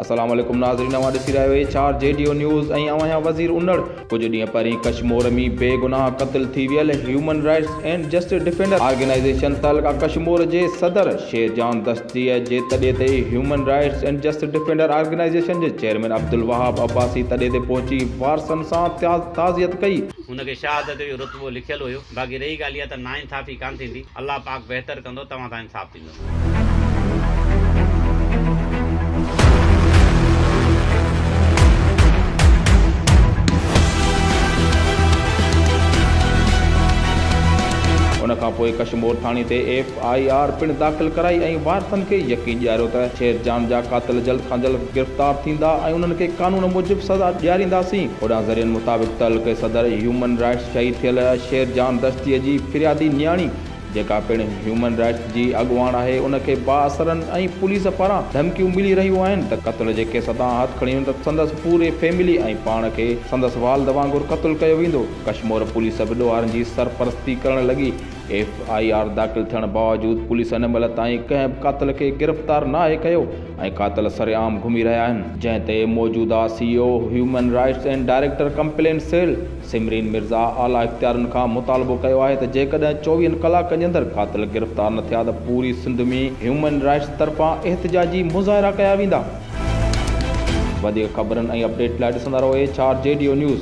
السلام عليڪم ناظرين اوهان ڏسي رهيا آهيو H R J D O news ۽ اوهان آهيان وزير انڙ. ڪجهه ڏينهن پهرين ڪشمور ۾ بي گناهه قتل ٿي ويل human rights and justice defender organisation تعلقه ڪشمور جي صدر شير جان دستي جي تڏي تي human rights and justice defender organisation جي چيئرمين عبدالوهاب عباسي تڏي تي پهچي وارثن سان تعزيت ڪئي. هن کي شهادت جو رتبو لکيل هيو باقي رهي ڳالهه اها ته ناانصافي ڪانه ٿيندي الله پاڪ بهتر ڪندو توهان سان انصاف. ان کان پوء ڪشمور ٿاڻي تي ايف آء آر پڻ داخل ڪرائي ۽ وارثن کي يقين ڏياريو ته شير جان جا قاتل جلد کان جلد گرفتار ٿيندا ۽ انهن کي قانون موجب سزا ڏيارينداسين. هوڏانهن ذريعن مطابق تعلقي صدر هيومن رائٽس شهيد ٿيل شير جان دشتيء جي فريادي نياڻي، جيڪا پڻ هيومن رائٽس جي اڳواڻ آهي ان کي بااثرن ۽ پوليس پاران ڌمڪيون ملي رهيون آهن ته قتل جي ڪيس تان هٿ کڻي نه ته سندس پوري فيملي ۽ پاڻ کي سندس والد وانگر قتل ڪيو ويندو ڪشمور پوليس به ڏوهارن جي سرپرستي ڪرڻ لڳي ايف آء آر داخل ٿيڻ باوجود پوليس هن مهل تائين ڪنهن به قاتل کي گرفتار ناهي ڪيو ۽ قاتل سرعام گهمي رهيا آهن. جنهن تي موجوده C O human rights and director complain cell. Samreen Mirza اعليٰ اختيارين کان مطالبو ڪيو آهي ته جيڪڏهن چوويهن ڪلاڪن جي اندر قاتل گرفتار نه ٿيا ته پوري سنڌ ۾ هيومن رائٽس طرفان احتجاجي مظاهرا ڪيا ويندا. وڌيڪ خبرن ۽ اپڊيٽ لاء ڏسندا رهو H R J D O news.